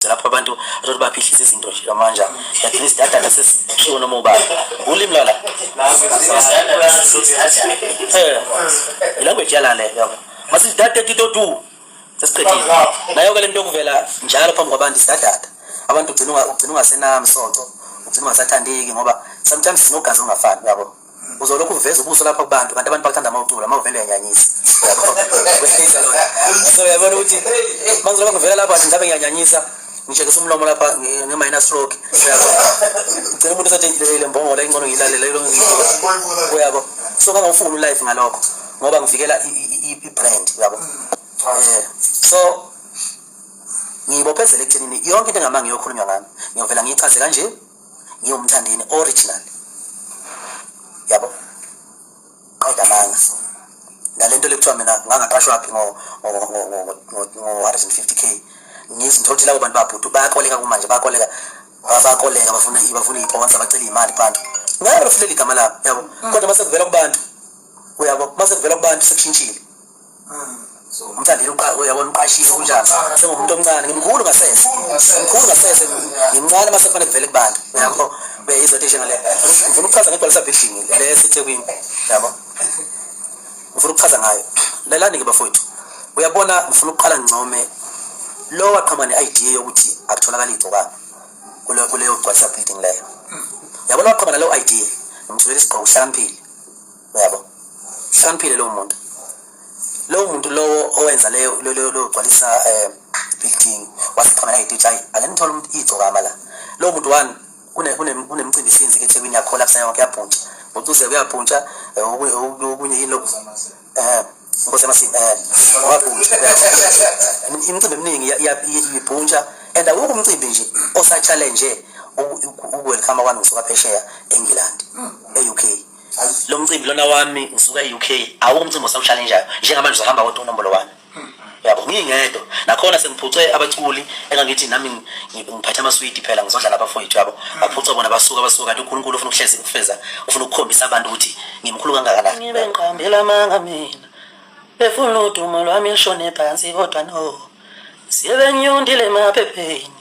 lapho abantu athi baphihlisa izinto nje lamanje at least data sesishiwo noma ubani ulimi lala eh language yala le yabo masithi data tito tu sesiqedile nayo ke lento kuvela njalo phambi kwabantu isadata abantu ugcina ugcina ungasenami sonto ugcina ungasathandeki ngoba sometimes sinogazi ongafani yabo uzolokhu uveza ubuso lapha kubantu kanti abantu bakuthanda uma ucula uma uvele uyanyanyisa so yabona ukuthi manje lokho ngivela lapha ngabe ngiyanyanyisa ngishekisa umlomo lapha nge-minor stroke uyabo ngicela umuntu esathi le mbongola ingcono ngiyilalele uyabo so kangawufuni ulife ngalokho ngoba ngivikela i-brand uyabo eh, so ngiyibophezela ekuthenini yonke into engama ngiyokhulunywa ngami ngiyovela ngiyichaze kanje ngiyomthandini original yabo qeda amanga nalento lekuthiwa mina ngangaqashwaphi ngo-150 k ngizinto ukuthi labo bantu babhuti bayakoleka kumanje bayakoleka bayakoleka bafuna bafuna iponsa bacela imali kubantu ngeke bafilela igama labo yabo mm. kodwa mase kuvela kubantu uyabo mase kuvela kubantu sekushintshile umthandile uyabona uqashile kunjani sengumuntu omncane ngimkhulu ngasese ngimkhulu ngasese ngimncane uma sekufanele kuvele kubantu yabo beyizothi ishe ngale ngifuna ukuchaza ngegcwalisa building le esethekwini yabo ngifuna ukuchaza ngayo lalani-ke bafowethu uyabona ngifuna ukuqala ngincome lo waqhama ne-idea yokuthi akutholakali igcokana kuleyo gcwalisa building leyo yabona waqhama naleyo idea ngimtholela isigqoko uhlakaniphile uyabo hloniphile lowo muntu lowo muntu lowo owenza leyo logcwalisa um eh, building wasekhona nayititsha ayi ake nithole umuntu igcokama la lowo muntu one kunemcimbi isinzi ke ethekwini yakhola kusana yonke yabhuntsha ucuze kuyabhuntsha eh, okunye yini lokhu um inkosi yamasini um wabhuntsha imicimbi eminingi ibhuntsha and awukho umcimbi nje osatshalenje ukuwelkhama kwami ngisuka phesheya engilandi hmm. e-u k lo mcimbi lona wami ngisuka e-uk awukho umcimbi osawushalenjayo njengamanje uzahamba kodwa unombolo wami yabo ngingedwa nakhona sengiphuce abaculi engangithi nami ngiphathe amaswidi phela ngizodlala abafowethu yabo baphuca bona basuka basuka kanti unkulunkulu ufuna ukuhlezi ukufeza ufuna ukukhombisa abantu ukuthi ngimkhulu kangakanani ngibe ngiqambela amanga mina befuna udumo lwami lushone phansi kodwa no siyebenyundile emaphepheni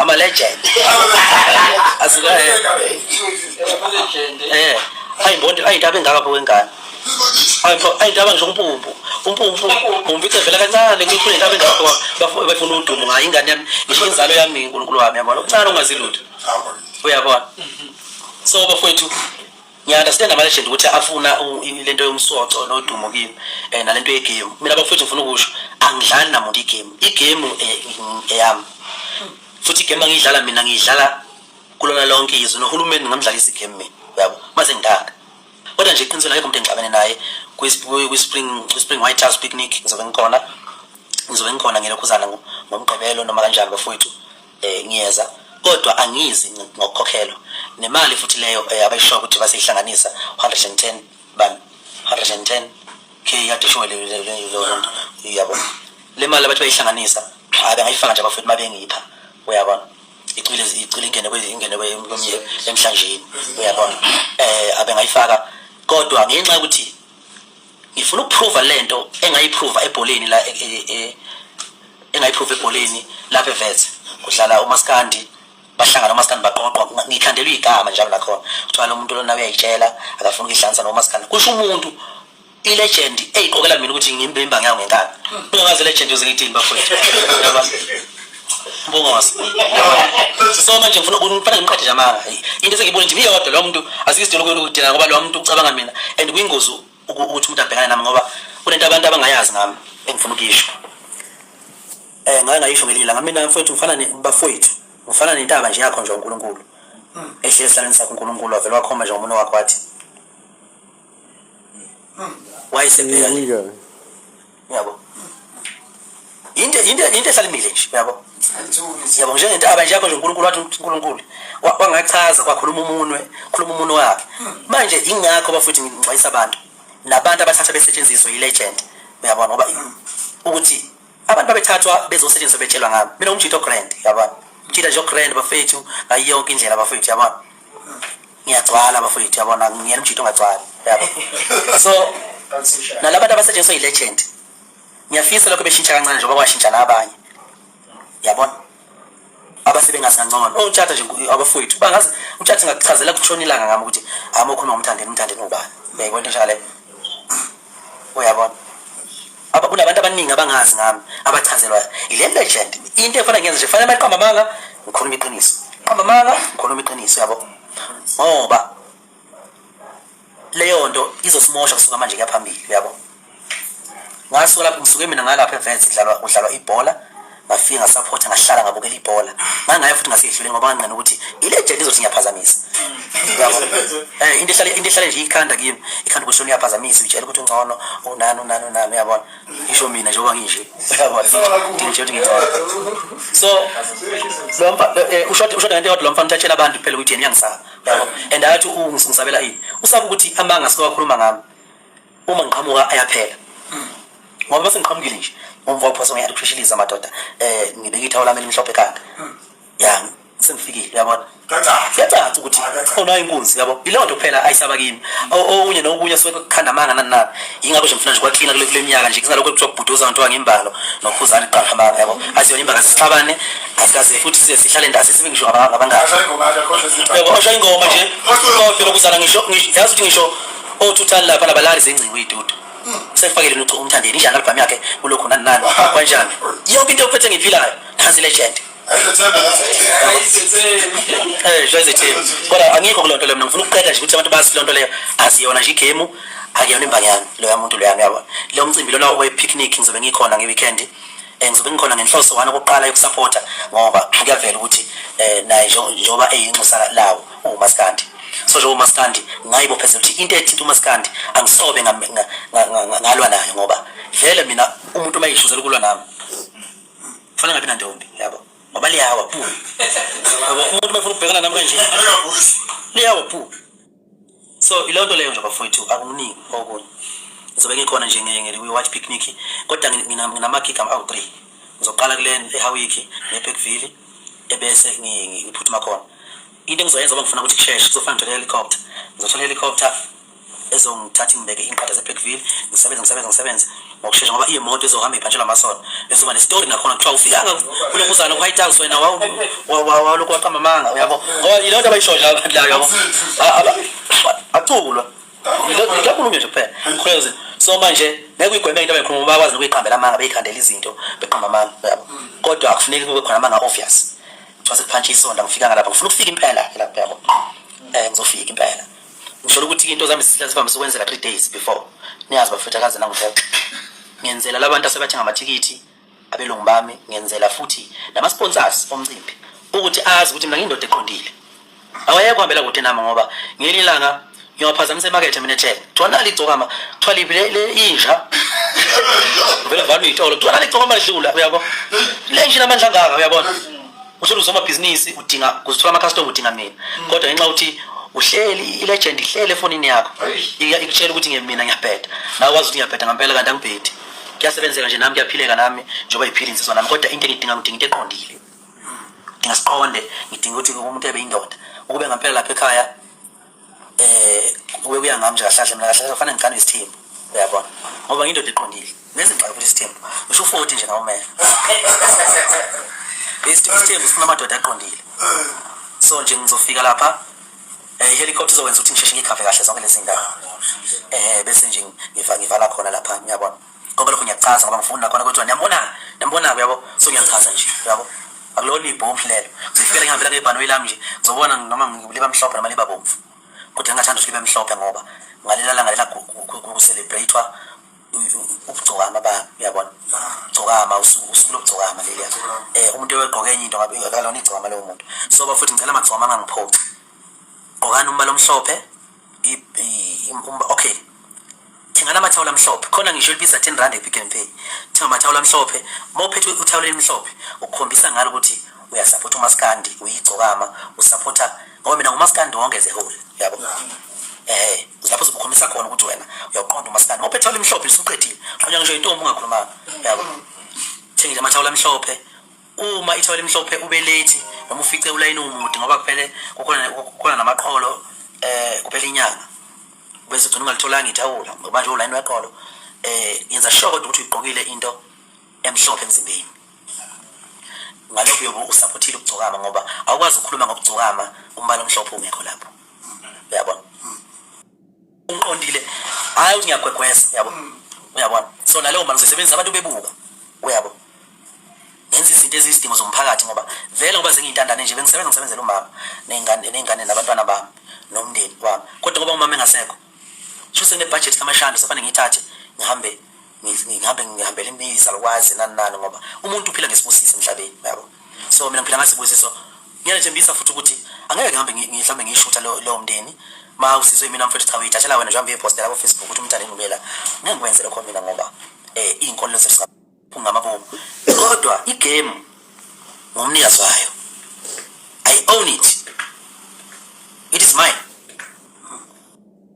I'm a legend. Asikaye. Eh. Hayi mbondi, hayi ndaba engaka pho wengane. Hayi mfo, hayi ndaba nje umpumpu. Umpumpu, umpumpu icevela kancane ngikho ndaba engaka pho bafuna bafuna udumo ngayo ingane yami, ngisho inzalo yami uNkulunkulu wami yabona. Uncane ungazilutho. Uyabona. So bafowethu ngiyaunderstand ama-legend ukuthi afuna lento yomsoco nodumo kimi um nalento yegemu mina bafowethu ngifuna ukusho angidlali namuntu igemu igemu eh, eyami futhi igemu angiyidlala mina ngiyidlala kulona lonke izwe nohulumeni ngingamdlalisa igemu mina uyabo maze ngidaka kodwa nje iqinisweni akekho umuntu engixabene naye kwi-spring white house picnic ngizobe ngikhona ngizobe ngikhona ngelokhuzana ngomgqibelo noma kanjani bafowethu eh ngiyeza kodwa angizi ngokukhokhelwa nemali futhi leyo eh, abayishoyo ukuthi basihlanganisa 110 ban 110 ke yade showe le le le yonto yabo le mali abathi bayihlanganisa cha bengayifaka nje abafethu mabengipha uyabona icwile icwile ingene kwe ingene kwe emhlanjeni uyabona eh abengayifaka kodwa ngenxa ukuthi ngifuna ukuprova lento engayiprova ebholeni la e- e- e- engayiprova ebholeni lapha evetse kudlala umaskandi bahlangana umaskandi baqoqwa ngikhandelwa igama njalo nakhona kuthiwa lo muntu lona uyayitshela akafuni ukuyihlanganisa nomaskandi kusho umuntu ilegend eyiqokela mina ukuthi ngimbimba ngayo ngenkani ungazi ilegend yoze ngithini bafowethu Bongosi. So manje ngifuna ukufana ngimqede nje amanga. Into esengibona nje iyodwa lo muntu asikisidelo kuyona ukudinga ngoba lo muntu ucabanga mina and kuyingozi ukuthi umuntu abhekane nami ngoba kunento abantu abangayazi ngami engifuna ukuyisho. Eh ngake ngayisho ngelinye langa mina mfowethu ngifana nebafowethu. Ngifana nentaba nje yakho nje uNkulunkulu. Ehlezi salenza uNkulunkulu wavela wakhomba nje umuntu wakho wathi wayesebheka le Uyabika. yabo into into into esalimile nje yabo yabo njengentaba nje yakho nje uNkulunkulu wathi uNkulunkulu wa- wangachaza kwakhuluma umunwe khuluma umunwe wakhe manje ingakho bafuthi ngixwayisa abantu nabantu abathatha besetshenziswa yilegend uyabona ngoba ukuthi abantu babethathwa bezosetshenziswa betshelwa ngami mina umjito grand yabona mjita nje grand bafethu ngayo yonke indlela bafethu yabona ngiyagcwala bafowethu yabona ngiyena umjito ongagcwali yabo so nalaba bantu abasetshenziswa yi-legend ngiyafisa lokho beshintsha kancane njengoba kwashintsha nabanye yabona abasebengazi kancongolo oh, ongitshata nje abafowethu bangazi umtshata ngakuchazela kutshona ilanga ngami ukuthi hama ukhuluma ngomthandeni umthandeni ubani uyayibona into njalo uyabona aba kunabantu abaningi abangazi ngami abachazelwayo yile legend into efana ngenza nje fanele maqamba amanga ngikhuluma iqiniso qamba amanga ngikhuluma iqiniso yabo ngoba leyo nto izosimosha kusuka manje kuyaphambili uyabo ngasuka lapho ngisuke mina ngalapha events kudlalwa kudlalwa ibhola ngafika ngasaphotha ngahlala ngabukela ibhola ngangaye futhi ngasedluleni ngoba nganqina ukuthi ilegend izothi ngiyaphazamisa yabo eh into ehlale into ehlale nje ikhanda kimi ikhanda kusho liyaphazamisa utshela ukuthi ungcono unani unani unani uyabona isho mina njengoba nginje uyabona ngisho ukuthi ngingcono so lo mfa eh, usho usho ngento yodwa lo mfa ngithatshela abantu phela ukuthi yena uyangisaba yabo and athi ungisabela ini usaba ukuthi amanga sikakhuluma ngami uma ngiqhamuka ayaphela hmm. ngoba base ngiqhamukile nje umva uphosa ngiyathi kushishiliza amadoda eh ngibeka ithawo lami elimhlophe kanga hmm. ya sengifikile uyabona kuyacaca ukuthi khona inkunzi yabo yileyo nto kuphela ayisaba kimi okunye nokunye suke kukhanda amanga nani nani yingakho nje mfuna nje kwaklina kule kule minyaka nje kunalokho kuthiwa kubhuduza abantu wangimbalo nokhuzana iqanga amanga yabo asiyona imbanga sixabane asikaze futhi size sihlale ndazi sibe ngisho abangani yabo osho ingoma nje kodwa lokuzana ngisho yazi ukuthi ngisho othuthani lapha labalali zengcingo iy'dudu sengifakele lutho umthandeni injani albhamu yakhe kulokhu nani nani kwanjani yonke into yokuphethe ngiyiphilayo nansi legend Eh, jwayeze team. Kodwa angikho kuloo nto leyo mina ngifuna ukuqeda nje ukuthi abantu bazi loo nto leyo asiyona nje igemu akuyona imbangi yami loya muntu loya uyabona. Lo mcimbi lona owe-picnic ngizobe ngikhona nge-weekend eh, ngizobe ngikhona ngenhloso wani okokuqala yokusapota ngoba kuyavela ukuthi um naye njengoba eyinxusa lawo umaskandi so njengoba umaskandi ngayibophezela ukuthi into ethinta umaskandi angisobe ngalwa nayo ngoba vele mina umuntu uma yishuzela ukulwa nami kufanele ngabi nantombi yabo ngoba liyawa phu ngoba umuntu uma efuna ukubhekana nami kanje liyawa phu so iloo nto leyo nje bafowethu akuningi okunye ngizobe ngikhona nje ngiyi-watch picnic kodwa nginamagigam awu-three ngizoqala kule ehawiki nebhekville ebese ngiphuthuma khona into engizoyenza ngoba ngifuna ukuthi kusheshe kuzofana ngithola helicopter ngizothola helicopter ezongithatha ingibeke inqada zeBlackville ngisebenze ngisebenze ngisebenze ngokushesha ngoba imoto ezohamba iphantshelwa amasonto ezoba nestory nakhona kuthiwa ufikanga kulo muzana ku-white house wena walokhu waqamba amanga uyabo ngoba yiloo nto abayishoyo abantu la yabo aculwa nje kuphela because so manje ngeke uyigweme into abayikhuluma bakwazi nokuyiqambela amanga beyiqandela izinto beqamba amanga yabo kodwa akufuneki kube khona amanga obvious kuthiwa sekuphantshi isonto angifika ngalapha ngifuna ukufika impela lapho yabo um ngizofika impela ngisholo ukuthi into zami zisihlala sivamise ukwenzeka three days before niyazi bafetha kaze nangifexa ngenzela labantu asebathenga amathikithi abelungu bami ngenzela futhi nama-sponsors omcimbi ukuthi azi ukuthi mina ngiyindoda eqondile awayeke kuhambela kude nami ngoba ngelinye ilanga ngiyophazamisa emakethe mina ethele kuthiwa nali igcokama kuthiwa liphi inja vele valo iyitolo kuthiwa nali igcokama lidlula uyabo le nje inamandla angaka uyabona uthole usomabhizinisi udinga kuzithola amakhastoma udinga mina kodwa ngenxa ukuthi uhleli ilegend ihlele efonini yakho ikutshela ukuthi ngemina ngiyabheda nawe wazi ukuthi ngiyabheda ngampela kanti angibhedi kuyasebenzeka nje nami kuyaphileka nami njengoba yiphila insizwa nami kodwa into engidinga ngidinga into eqondile ngidinga siqonde ngidinga ukuthi umuntu ebe indoda ukube ngampela lapha ekhaya eh kube kuya ngami nje kahlahle mina kahlahle kufanele ngigane isithembu uyabona ngoba ngiyindoda eqondile nezingxaki futhi isithembu ngisho u-40 nje nawo mele isithembu sifuna amadoda aqondile so nje ngizofika lapha Eh helicopter izokwenza ukuthi ngisheshe ngikhave kahle zonke lezi ndawo. Eh bese nje ngiva ngivala khona lapha ngiyabona. Ngoba lokho ngiyachaza ngoba ngifuna khona kodwa niyambona. Niyambona yabo. So ngiyachaza nje yabo. Akulona ibhomu lelo. Ngifikela ngihambela ngebhanoyi lami nje. Ngizobona noma ngiliba mhlophe noma liba bomvu. Kodwa ngingathanda ukuthi libe mhlophe ngoba ngalela la ngalela ku celebrate ukugcokama ba uyabona gcokama usuku usuku lokugcokama leliya eh umuntu ewegqoke enye into ngabe akalona igcokama lowo muntu so bafuthi ngicela amagcokama angangiphoxi gqokani umbala omhlophe um, okay thengana amathawula amhlophe khona ngisho libiza 10 rand epick and pay thenga amathawula amhlophe mawuphethe uthawula elimhlophe ukukhombisa ngalo ukuthi uyasaphotha umaskandi uyigcokama usaphotha ngoba mina ngumaskandi wonke ze whole yabo eh lapho uzokhombisa khona ukuthi wena uyaqonda umaskandi ngoba ethawula emhlophe usuqedile qhanya ngisho intombi ungakhulumanga yabo thengile amathawula amhlophe uma ithawula emhlophe ube late noma ufice ulayini umude ngoba kuphele kukhona kukhona namaqholo eh kuphela inyanga bese ugcina ungalitholanga ithawula ngoba nje ulayini weqholo eh yenza sure kodwa ukuthi uyigqokile into emhlophe emzimbeni ngalokho uyobe usaphothile ukugcokama ngoba awukwazi ukukhuluma ngokugcokama umbala omhlophe ungekho lapho uyabona uqondile hayi ukuthi ngiyagwegweza yabo uyabona so naleyo mali ngisebenzisa abantu bebuka uyabo ngenza izinto eziyizidingo zomphakathi ngoba vele ngoba zengiyintandane nje bengisebenza ngisebenzela umama ney'ngane ney'ngane nabantwana bami nomndeni wami kodwa ngoba umama engasekho sho senginebhajethi kamashanda sefane ngiyithathe ngihambe ngihambe ngihambele izalukwazi nani nani ngoba umuntu uphila ngesibusiso emhlabeni yabo so mina ngiphila ngasibusiso ngiyanethembisa futhi ukuthi angeke ngihambe ngihlambe ngiyishutha lowo mndeni ma usizwe mina mfethu cha uyithathela wena nje hambe uyepostela ko Facebook ukuthi umntana engumela ngeke ngikwenze lokho mina ngoba eh izinkolo zethu kungamabomu kodwa igame ngumnikazi wayo i own it it is mine